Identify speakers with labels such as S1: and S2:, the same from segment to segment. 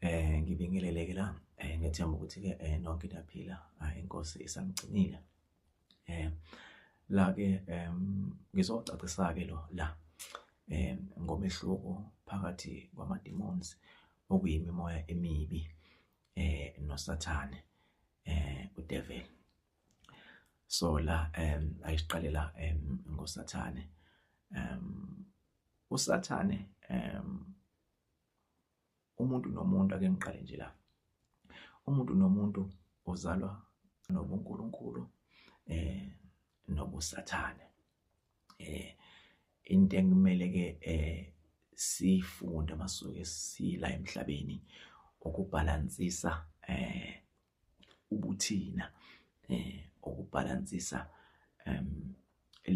S1: Eh ngibingelele ke la eh ngethemba ukuthi ke eh nonke niyaphila ah, inkosi isamgcinile eh la ke em ngizocacisa ke lo la eh ngomehluko phakathi kwama demons okuyimimoya emibi eh nosathane eh udevil so la em ayiqalela em ngosathane em usathane em umuntu nomuntu ake ngiqale nje la umuntu nomuntu uzalwa nobunkulunkulu eh nobusathane eh into ekumele ke eh sifunde masuke sila emhlabeni ukubhalansisa eh ubuthina eh okubhalansisa em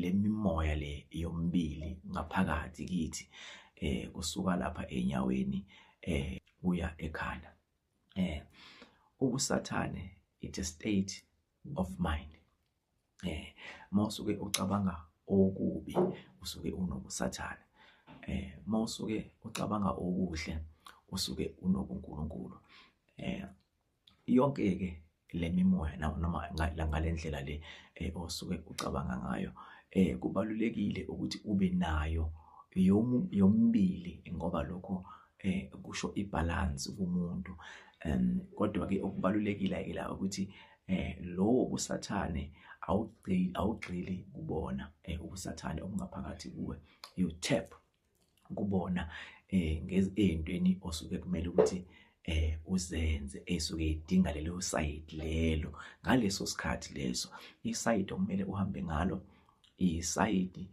S1: lemimoya le yombili ngaphakathi kithi eh kusuka lapha enyaweni eh kuya ekhanda eh ubusathane it a state of mind eh mawusuke ucabanga okubi usuke unobusathane eh mawusuke ucabanga okuhle usuke unobunkulunkulu eh yonke-ke le mimoya noma ngale ndlela le eh, osuke ucabanga ngayo eh, kubalulekile ukuthi ube nayo yomibili ngoba lokho eh, kusho ibhalansi kumuntu um kodwa-ke okubalulekile-ke la ukuthi eh lowo busathane awugcili awugxili kubona eh ubusathane obungaphakathi kuwe you tap kubona eh ngezintweni osuke kumele ukuthi eh uzenze esuke idinga lelo side lelo ngaleso sikhathi leso iside okumele uhambe ngalo isayidi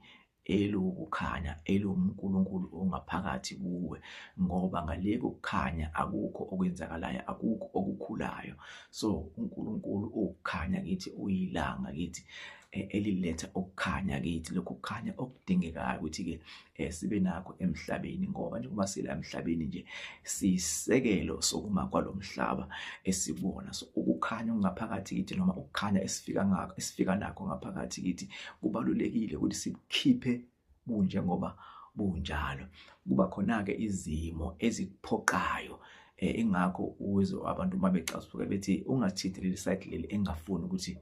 S1: elukukhanya elomuNkulunkulu ongaphakathi kuwe ngoba ngaleko kukhanya akukho okwenzakalayo akukho okukhulayo so uNkulunkulu ukukhanya kithi uyilanga kithi e-, eliletha ukukhanya kithi lokhu kukhanya okudingekayo ukuthi-ke um sibe nakho emhlabeni ngoba njengoba sila emhlabeni nje siyisekelo sokuma kwalo mhlaba esikuwona so ukukhanya okungaphakathi kithi noma ukukhanya esifika ngakho esifika nakho ngaphakathi kithi kubalulekile ukuthi sikhiphe kunje ngoba bunjalo kuba khona-ke izimo ezikuphoqayo um ingakho uzwe abantu uma becasuke bethi ungathinti leli sayidi leli engafuni ukuthi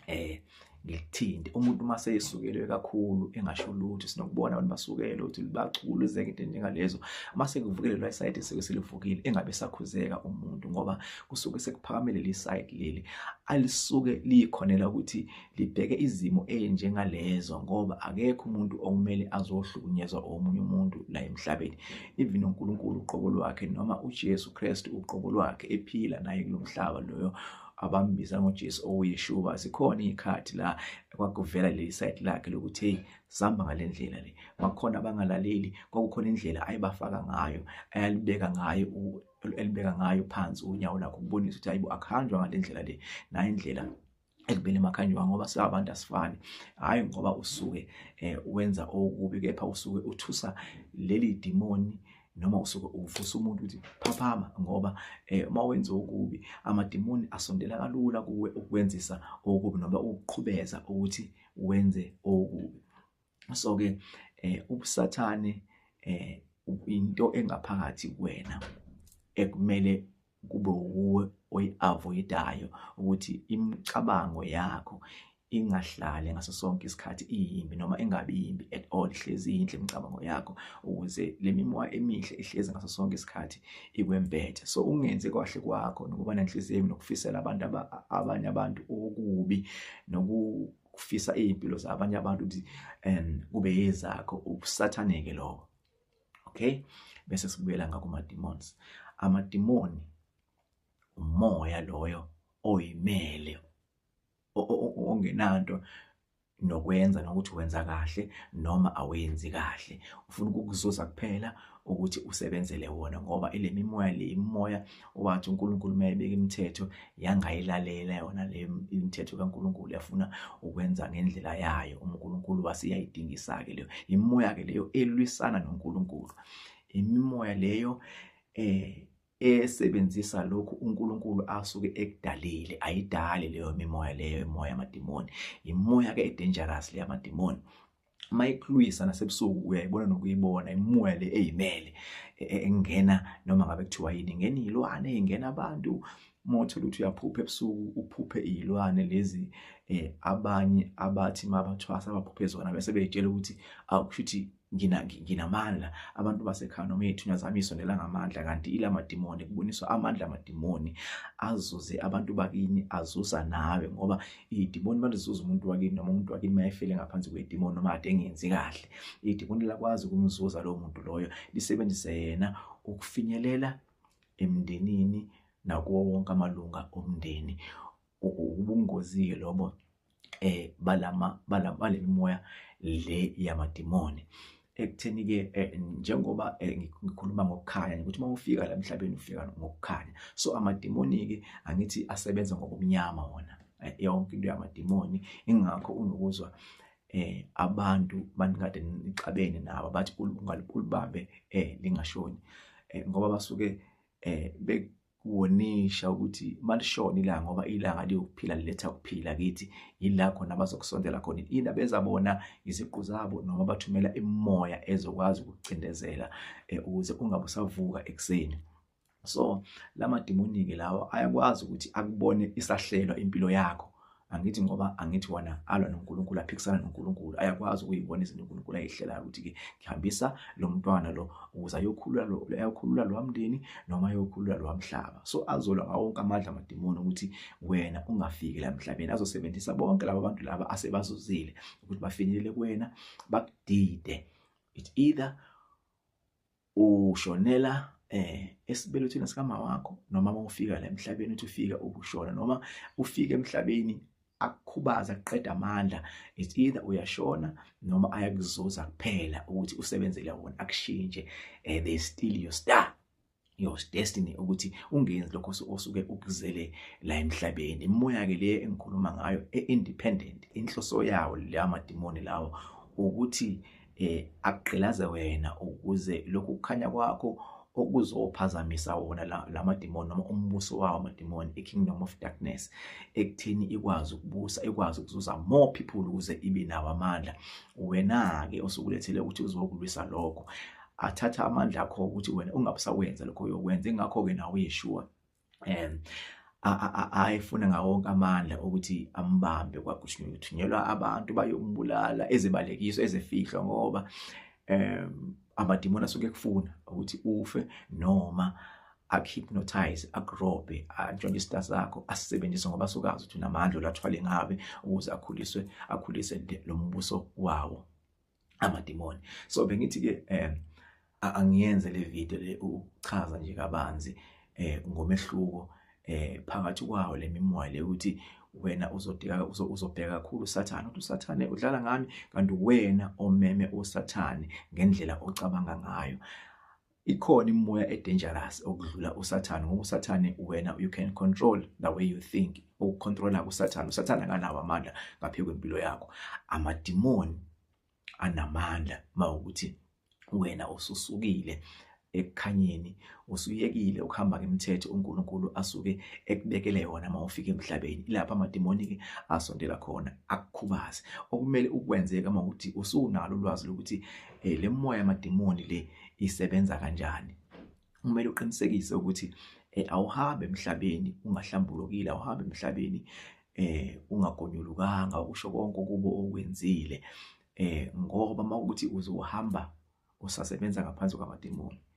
S1: eh ngikuthinte umuntu uma seyesukelwe kakhulu engasho lutho sinokubona abantu basukelwe ukuthi bacula izeke into njengalezo uma sekuvukile lo side sike silivukile engabe sakhuzeka umuntu ngoba kusuke sekuphakamele le side leli alisuke likhonela ukuthi libheke izimo ezinjengalezo ngoba akekho umuntu okumele azohlukunyezwa omunye umuntu la emhlabeni even uNkulunkulu uqobo lwakhe noma uJesu Kristu uqobo lwakhe ephila naye kulomhlaba loyo abambiza ngoJesu ouyishuba zikhona izikhathi la kwakuvela leli side lakhe lokuthi hey sihamba ngalendlela le bakhona abangalaleli kwakukhona indlela ayibafaka ngayo ayalibeka ngayo elibeka ngayo phansi unyawo lakho ukubonisa ukuthi hayibo akuhanjwa ngalendlela le nayo indlela ekubeni emakhanjwa ngoba singabantu asifani hayi ngoba usuke eh, wenza okubi kepha usuke uthusa leli dimoni noma usuke uvusa umuntu ukuthi phaphama ngoba eh, uma wenza okubi amadimoni asondela kalula kuwe ukwenzisa okubi noma ukuqhubeza ukuthi wenze okubi so ke eh, ubusathane eh, into engaphakathi kuwena ekumele kube wuwe oyi-avoidayo ukuthi imicabango yakho ingahlali ngaso sonke isikhathi iyimbi noma ingabi yimbi at all ihlezi yinhle imicabango yakho ukuze le mimoya emihle ihlezi ngaso sonke isikhathi ikwembethe so ungenzi kwahle kwakho nokuba nenhliziyo nokufisela abantu abanye abantu okubi noku ukufisa iy'mpilo zabanye abantu ukuthi um kube yezakho ubusathaneke lobo okay bese sibuyela ngakuma demons amadimoni umoya loyo oyimele ongenanto nokwenza nokuthi wenza kahle noma awenzi kahle ufuna ukukuzuza kuphela ukuthi usebenzele wona ngoba ile mimoya le imoya wathi uNkulunkulu mayebeka imithetho yangayilalela yona le imithetho kaNkulunkulu yafuna ukwenza ngendlela yayo uNkulunkulu wasiyayidingisa ke leyo imimoya ke leyo elwisana noNkulunkulu imimoya leyo eh esebenzisa lokhu uNkulunkulu asuke ekudalile ayidali leyo mimoya leyo imoya yamadimoni imoya ke edangerous leyamadimoni uma ikulwisa nasebusuku uyayibona nokuyibona imimoya le eyimele e, e, engena noma ngabe kuthiwa yini ingena iy'lwane ingena abantu uma uthole ukuthi uyaphupha ebusuku uphuphe iy'lwane lezi um abanye abathi uma bathwasa abaphuphe zona bese beyitshela ukuthi awu kusho ukuthi nginamandla abantu basekhaya noma iy'thunywa zami isondela ngamandla kanti ila madimoni kuboniswa amandla amadimoni azuze abantu bakini azuza nawe ngoba idimoni malisuza umuntu wakini noma umuntu wakini mayefele ngaphansi kwedimoni noma ade engenzi kahle idimoni lakwazi ukumzuza lowo muntu loyo lisebenzise yena ukufinyelela emndenini nakuwo wonke amalunga omndeni ubungozi-ke lobo um balama balemimoya le yamadimoni ekutheni-ke eh, njengoba eh, ngikhuluma ngokukhanya ukuthi uma ufika la emhlabeni ufika ngokukhanya so amadimoni-ke angithi asebenza ngobumnyama wona eh, yonke into yamadimoni ingakho unokuzwa eh abantu banikade nixabene nabo bathi ungalibambe eh lingashoni eh, ngoba basuke eh kuwonisha ukuthi malishona ilanga ngoba ilanga liyokuphila liletha ukuphila kithi yila khona abazokusondela khona yini abenza bona iziqu zabo noma bathumela imimoya ezokwazi ukucindezela eh, ukuze ungabe usavuka ekuseni so lamadimoni-ke lawa ayakwazi ukuthi akubone isahlelwa impilo yakho angithi ngoba angithi wona alwa noNkulunkulu aphikisana noNkulunkulu ayakwazi ukuyibona izinto uNkulunkulu ayihlelayo ukuthi ke ngihambisa lo mntwana lo ukuze ayokhulula lo ayokhulula lo mndeni noma ayokhulula lo mhlaba so azolwa ngawo wonke amandla amadimoni ukuthi wena ungafiki la emhlabeni azosebenzisa bonke laba bantu laba asebazuzile ukuthi bafinyelele kuwena bakudide it either ushonela eh esibelethweni sikama wakho noma uma ufika la emhlabeni uthi ufika ukushona noma ufika emhlabeni akukhubaza kuqeda amandla it's either uyashona noma ayakuzuza kuphela ukuthi usebenzele wona akushintshe eh they steal your star your destiny ukuthi ungenzi lokho osuke ukuzele la emhlabeni imoya ke le engikhuluma ngayo e independent inhloso yawo la madimoni lawo ukuthi eh akugqilaze wena ukuze lokhu kukhanya kwakho okuzophazamisa wona la madimoni noma umbuso wawo amadimoni i-kingdom of darkness ekuthini ikwazi ukubusa ikwazi ukuzuza more people ukuze ibe nawo amandla wena-ke osukulethele ukuthi uzokulwisa lokho athatha amandla akho ukuthi wena ungabusawenza lokho uyokwenza ingakho-ke nawe uyeshuwa um ayefuna ngawo wonke amandla ukuthi ambambe kwaGushniwe uthunyelwa abantu bayombulala ezibalekiswa ezifihlwa ngoba um amadimoni asuke kufuna ukuthi ufe noma akuhypnotize akurobhe antshontshe isita sakho asisebenzise ngoba sukazi ukuthi unamandla olathwale ngabe ukuze akhuliswe akhulise lo mbuso wawo amadimoni so bengithi ke um angiyenze le video le ukuchaza nje kabanzi eh ngomehluko eh phakathi kwawo lemimoya le ukuthi wena uzodika uzobheka kakhulu usathane uthi usathane udlala ngami kanti wena omeme usathane ngendlela ocabanga ngayo ikhona imimoya edangerous okudlula usathane ngoba usathane wena you can control the way you think ukucontrola kusathane usathane akanawo amandla ngaphe kwempilo yakho amadimoni anamandla mawukuthi wena ususukile ekukhanyeni usuyekile ukuhamba ngemithetho uNkulunkulu asuke ekubekele yona uma ufika emhlabeni ilapha amademoni ke asondela khona akukhubaze okumele ukwenzeka uma ukuthi usunalo ulwazi lokuthi eh le moya yamademoni le isebenza kanjani kumele uqinisekise ukuthi eh, awuhambe emhlabeni ungahlambulukile awuhambe emhlabeni eh ungagonyulukanga ukusho konke kubo okwenzile eh ngoba makuthi uzohamba usasebenza ngaphansi kwamademoni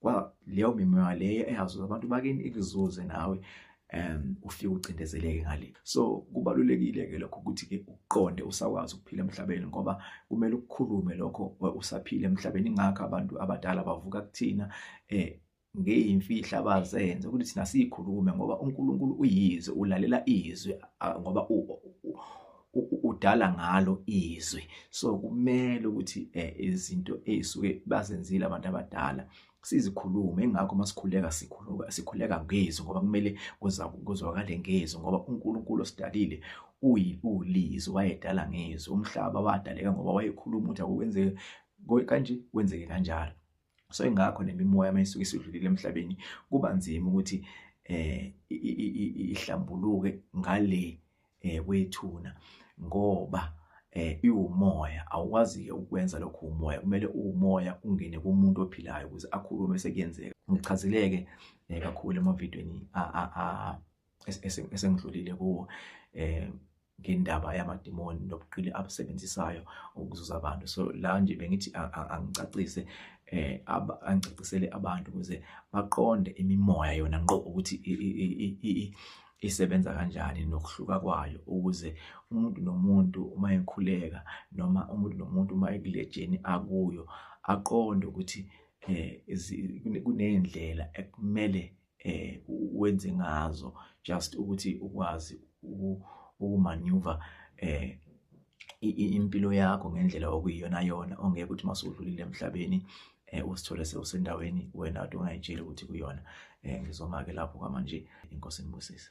S1: kwa leyo mimoya leyo eyazuza abantu bakini ikuzuze nawe um ufike ucindezeleke ngale so kubalulekile ke lokho ukuthi ke uqonde usakwazi ukuphila emhlabeni ngoba kumele ukukhulume lokho usaphila emhlabeni ingakho abantu abadala bavuka kuthina eh ngeyimfihla abazenze ukuthi thina siyikhulume ngoba uNkulunkulu uyizwe ulalela izwi ngoba udala ngalo izwi so kumele ukuthi eh, izinto ezisuke bazenzile abantu abadala sizikhulume ingakho masikhuleka sikhuluka sikhuleka ngezwi ngoba kumele kuzwakale ngezwi ngoba uNkulunkulu osidalile uyiulizi wayedala ngezwi umhlaba wadaleka ngoba wayekhuluma ukuthi akukwenzeke kanje kwenzeke kanjalo so ingakho nemimoya mayisuke isidlulile emhlabeni kuba nzima ukuthi eh ihlambuluke ngale eh, kwethuna ngoba eh iwumoya awukwazi ukwenza lokho umoya kumele umoya ungene kumuntu ophilayo ukuze akhulume sekuyenzeka ngichazeleke eh, kakhulu emavidweni a a a esengidlulile kuwo eh ngendaba yamadimoni nobuqili abusebenzisayo ukuzuza abantu so la nje bengithi angicacise eh angicacisele abantu ukuze baqonde imimoya yona ngqo ukuthi isebenza kanjani nokuhluka kwayo ukuze umuntu nomuntu uma ekhuleka noma umuntu nomuntu uma ekulejeni akuyo aqonde ukuthi eh kunendlela ekumele eh wenze ngazo just ukuthi ukwazi ukumaneuver eh impilo yakho ngendlela okuyiyona yona ongeke ukuthi masudlulile emhlabeni eh usithole sewusendaweni wena ade ungayitsheli ukuthi kuyona eh ngizoma ke lapho kwamanje inkosi nibusise